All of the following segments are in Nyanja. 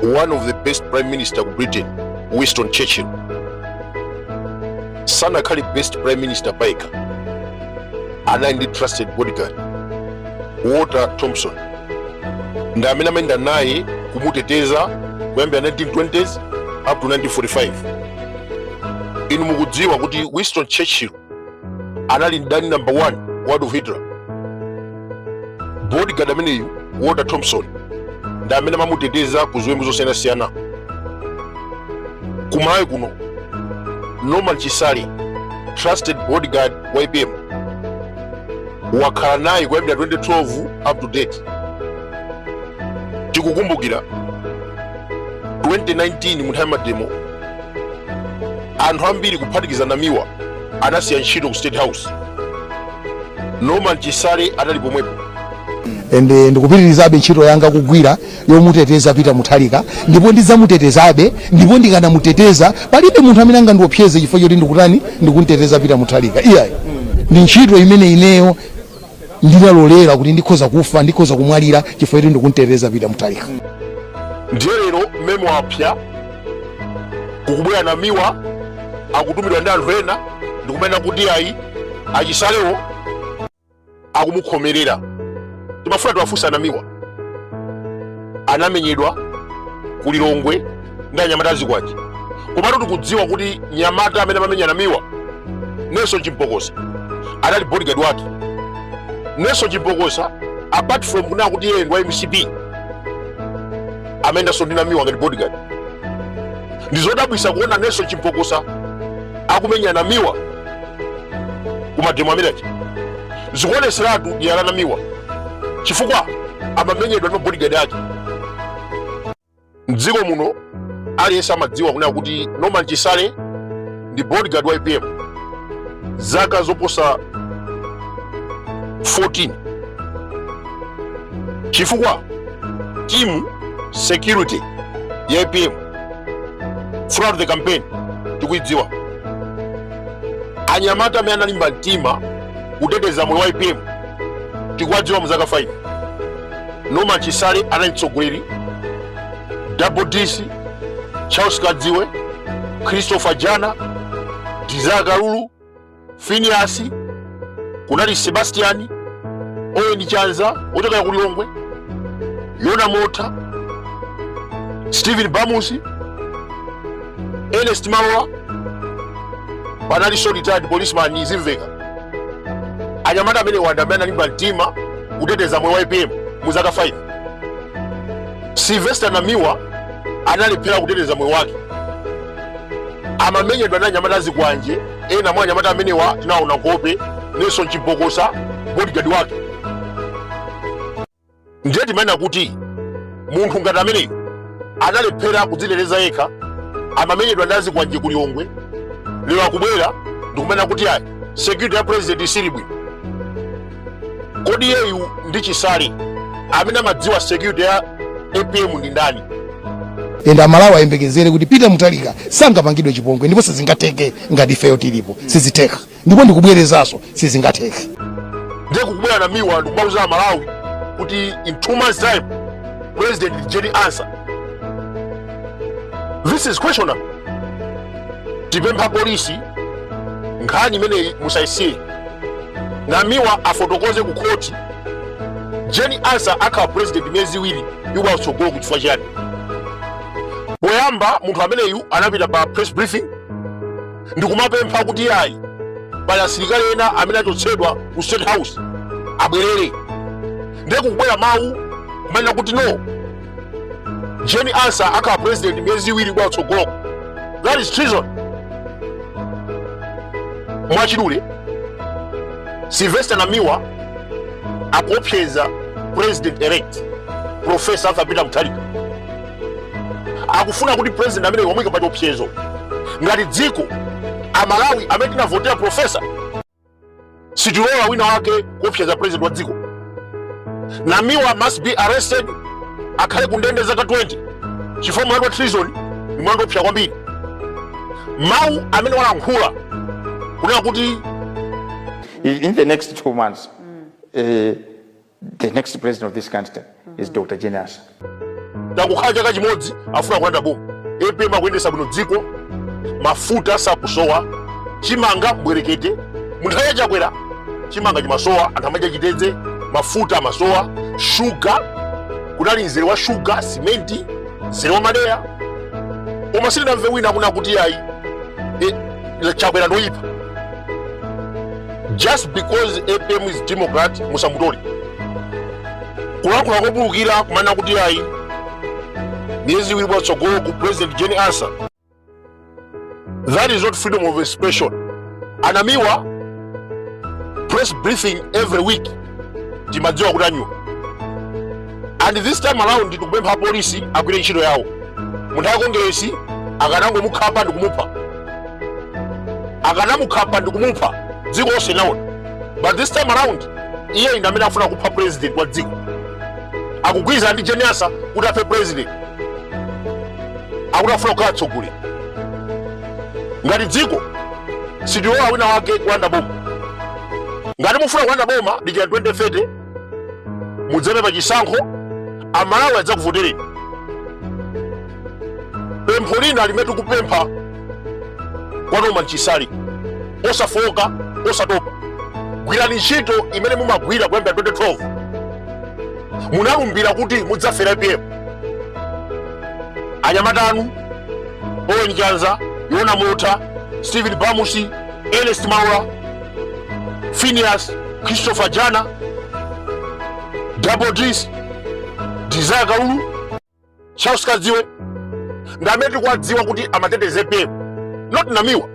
one of the best prime ministers ku britain winston churchill sanakhale best prime minister payekha anali ndi trusted bodyguard walter thompson ndi amene amayenda naye kumuteteza kuyambira 1920s up to 1945 inu mukudziwa kuti winston churchill anali mdani number 1 wa Adolf Hitler bodyguard ameneyu Walter Thompson ndi amene amamuteteza ku ziwembu zosiyanasiyana ku Malawi kuno Norman Chisale trusted bodyguard wa APM wakhala naye kuyambira 2012 up to date tikukumbukira 2019 munthawi ya mademo anthu ambiri kuphatikiza namiwa anasiya ntchito ku state house norman chisale anali pomwepo ende ndikupitirizabe ntchito yanga kugwira yomuteteza Peter Mutharika ndipo ndidzamutetezabe ndipo ndikanamuteteza palibe munthu amene angandiopseze chifukwa choti ndikutani ndikumteteza Peter Mutharika iyayi ndi ntchito imene ineyo ndinalolera kuti ndikhoza kufa ndikhoza kumwalira chifukwa choti ndikumteteza Peter Mutharika ndiye lero mmene wapsya kukubwera namiwa akutumidwa ndi anthu ena ndikumena kuti ayi achisalewo akumukhomerera timafuna tiwafunse a namiwa anamenyedwa ku lilongwe ndi anyamata azikwanje komatu tikudziwa kuti mnyamata amene amamenya namiwa nelson chimpokosa anali bodyguard wake nelson chimpokosa apart from kunena kuti iyeyo ndi wa mcp amayendanso ndi namiwa ngati bodyguard ndizodabwitsa kuona nelson chimpokosa akumenya namiwa kumademo amene aja zikuoneseratu dyera la namiwa chifukwa amamenyedwa ndi mabodigadi ake mdziko muno aliyense amadziwa kunena kuti norman chisale ndi bodigadi wa apm zaka zoposa 14 chifukwa timu ya security ya apm throughout the campaign tikuidziwa anyamata amene analimba mtima kuteteza moyo wa apm tikuwadziwa mu zaka 5 norman chisale anali mtsogoleri double dc charles kadziwe christopher jana desire kalulu phineas kunali sebastian owen chanza wochokera ku lilongwe yona mota stephen bamusi Ernest Malowa panalinso retired policeman izimveka anyamata amenewa ndi amene analimba mtima kuteteza moyo wa apm mu zaka 5 sylvester namiwa analephera kuteteza moyo wake amamenyedwa ndi anyamata azikwanje ena mwa anyamata amenewa tinaona nkhope nelson chimpokosa bodyguard wake ndiye timanena kuti munthu ngati ameneyu analephera kudziteteza yekha amamenyedwa ndi azikwanje ku lilongwe lero akubwera ndikumanena kuti ayi security ya president siili bwino kodi iyeyu ndi chisale amene amadziwa security ya apm ndi ndani ende amalawi ayembekezere kuti peter mutharika sangapangidwe chipongwe ndipo sizingatheke ngati ifeyo tilipo sizitheka ndipo ndikubwerezanso sizingatheke ndiye kukubwera namiwa ndikumauza amalawi kuti in two months time president is Jane Ansah this is questionable tipempha polisi nkhani imeneyi musayisiye namiwa afotokoze ku khoti Jane Ansah akhala president miyezi iwiri ikubwera kutsogoloku chifukwa chiyani poyamba munthu ameneyu anapita pa press briefing ndikumapempha kuti ayi pali asilikali ena amene achotsedwa ku state house abwerere ndiye kukubwera mawu kumanena kuti no Jane Ansah akhala president miyezi iwiri ikubwera kutsogoloko that is treason mwachidule sylvester namiwa akuopseza president elect profesa arthur peter mutharika akufuna kuti president amenewa amuika pa chiopsezo ngati dziko amalawi amene tinavotera profesa sitilola wina wake kuopseza president wa dziko namiwa must be arrested akhale kundende zaka 20 chifukwa mlandu wa treason ni mlandu oopsa kwambiri mawu amene walankhula kunena kuti in the next two months eh, The next president of this country is Dr. Jane Ansah. tangokhala chaka chimodzi afuna kulanda boma apm akuyendesa bwino dziko mafuta sakusowa chimanga mbwerekete munthawi ya chakwera chimanga chimasowa anthu amadya chitedze mafuta amasowa shuga kunali mzere wa shuga simenti mzere wa madeya koma sindinamve wina akunena kuti ayi eh, chakwera ndoyipa just because apm is democrat musamutole kulankhula kopulukira kumanena kuti ayi miyezi iwiri patsogolo ku president jane ansah that is not freedom of expression a namiwa press briefing every week timadziwa kuti anyiwa and this time around tikupempha apolisi agwire ntchito yawo munthu akongeresi akanangomukhapa ndikumupha akanamukhapa ndi kumupha dziko lonse linaona but this time around iye ndi amene afuna kupha president wa dziko akugwirizana ndi jane ansah kuti aphe president akuti afuna kukhala atsogoleri ngati dziko sitilola wina wake kulanda boma ngati mufuna kulanda boma dikira 2030 mudzaime pa chisankho amalawi adzakuvotereni pempho lina limene tikupempha kwa norman chisale osafoka osatopa gwirani ntchito imene mumagwira kuyambira 2012 munalumbira kuti mudzafera apm anyamata anu owen chanza yona mota stephen bamusi ernest maula Phineas Christopher Jana Double D's Desire Kaulu Charles Kadziwe ndi amene tikuwadziwa kuti amateteza APM not Namiwa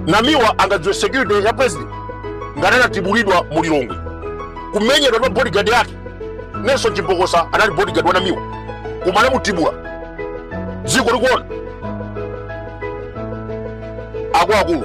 Namiwa angadziwe security ya president ngati anatibulidwa mu Lilongwe kumenyedwa ndi bodyguard yake Nelson Chimbokosa anali bodyguard wa Namiwa koma anamutibula dziko likuona akuluakulu